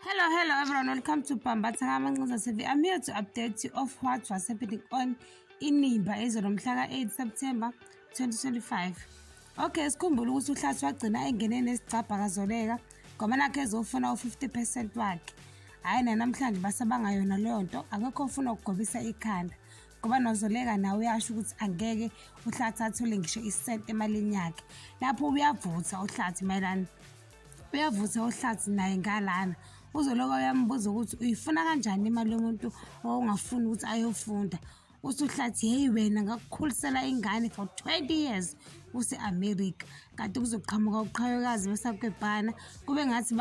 Hello, hello everyone. Welcome to Pambatha Kamancuza TV. I'm here to update you of what was happening on Inimba ezolo mhla ka-8 September 2025. Okay, sikhumbula ukuthi uhlathi wagcina engene nesicabha kazoleka ngoba nakhe ezofuna u-50 percent wakhe. Hhayi nanamhlanje basabanga yona leyo nto akekho ofuna ukugobisa ikhanda ngoba nozoleka nawe uyasho ukuthi angeke uhlathi athole ngisho isenti emalini yakhe lapho uyavutha uhlathi mayelana uyavutha ohlathi naye ngalana uzoloka uyambuza ukuthi uyifuna kanjani imali yomuntu owawungafuni ukuthi ayofunda usuhlathi heyi wena ngakukhulisela ingane for 20 years use-amerika kade kuzoqhamuka uqhayokazi besakwebhana kube ngathi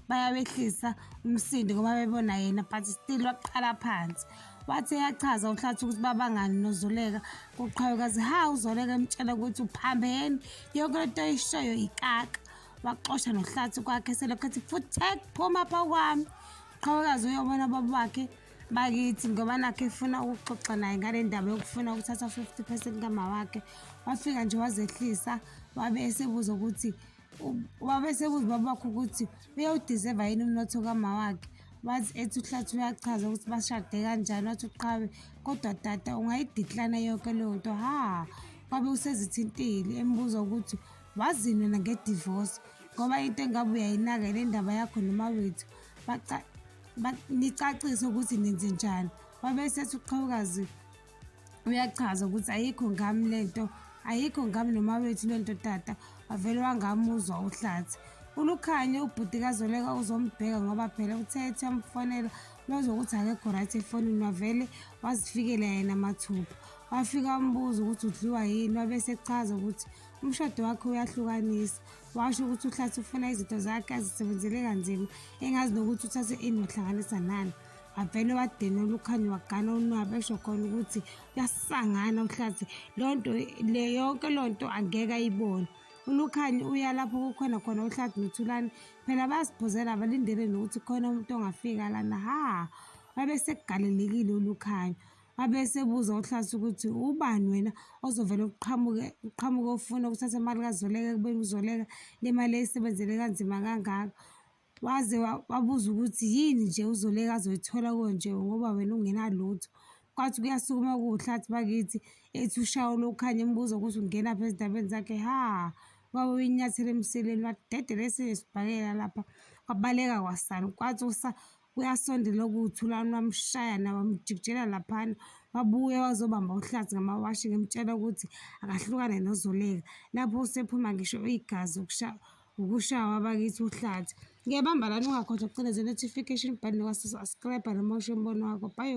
bayawehlisa umsindo ngoba bebona yena but still waqala phansi Wathi eyachaza uNhlathi ukuthi babangani noZoleka kuqhawekazi ha uZoleka emtshela ukuthi uphambeni yonke lento ayishoyo ikaka waxosha nohlathi kwakhe selokhu ethi futhek phuma pha kwami qhawekazi uyobona baba wakhe bakithi ngoba nakhe efuna ukuxoxa naye ngale ndaba yokufuna ukuthatha 50 percent kama wakhe wafika nje wazehlisa wabe esebuza ukuthi Ubaba esebuza ubaba wakhe ukuthi uyawudizeva yini umnotho kama wakhe wathi ethi uhlathi uyachaza ukuthi bashade kanjani wathi uqhawe kodwa tata ungayidiklana yonke leyo nto ha wabe usezithintile embuza ukuthi wazini wena ngedivosi ngoba into engabe uyayinaka le ndaba yakho noma wethu nicacise ukuthi nenze njani wabe sethi uqhawukazi uyachaza ukuthi ayikho ngami le nto ayikho ngami noma wethu le nto tata wavele wangamuzwa uhlathi ulukhanye ubhuti kazoleka uzombheka ngoba phela uthe ethi amfonela lozwa ukuthi akekho right efonini wavele wazifikela yena mathupha wafika wambuza ukuthi udliwa yini wabe sechaza ukuthi umshado wakhe uyahlukanisa washo ukuthi uhlathi ufuna izinto zakhe azisebenzele kanzima engazi nokuthi uthathe ini wahlanganisa nani wavele wadenela ukhanya wagana unwabu esho khona ukuthi uyasangana uhlathi loo nto le yonke loo nto angeke ayibone ulukhani uya lapho kukhona khona uhlathi nothulani phela bayaziphuzela abalindele nokuthi khona umuntu ongafika lana ha wabe sekugalelekile ulukhanya wabe sebuza uhlathi ukuthi ubani wena ozovele uqhamuke uqhamuke ufuna ukuthatha imali kazoleka ekubeni uzoleka le mali eyisebenzele kanzima kangaka Waze wabuza ukuthi yini nje uZoleka azoyithola konje ngoba wena ungenalutho. Kwathi kuyasukuma kuwuhlathi bakithi ethi ushawo lokukhanya embuza ukuthi ungenaphi ezindabeni zakhe ha wabe uyinyathela emsileni wadedela esinye sibhakela lapha wabaleka kwasani kwathi usa uyasondela okuwuthulani wamshaya nawo wamjikijela laphana wabuye wazobamba uhlathi ngamawashi ngimtshela ukuthi akahlukane nozoleka lapho usephuma ngisho igazi ukusha Ukushawa abakithi uhlathi. Ngiyabamba lana ungakhohlwa ukucindezela notification button wasubscribe noma usho umbono wakho. Bye.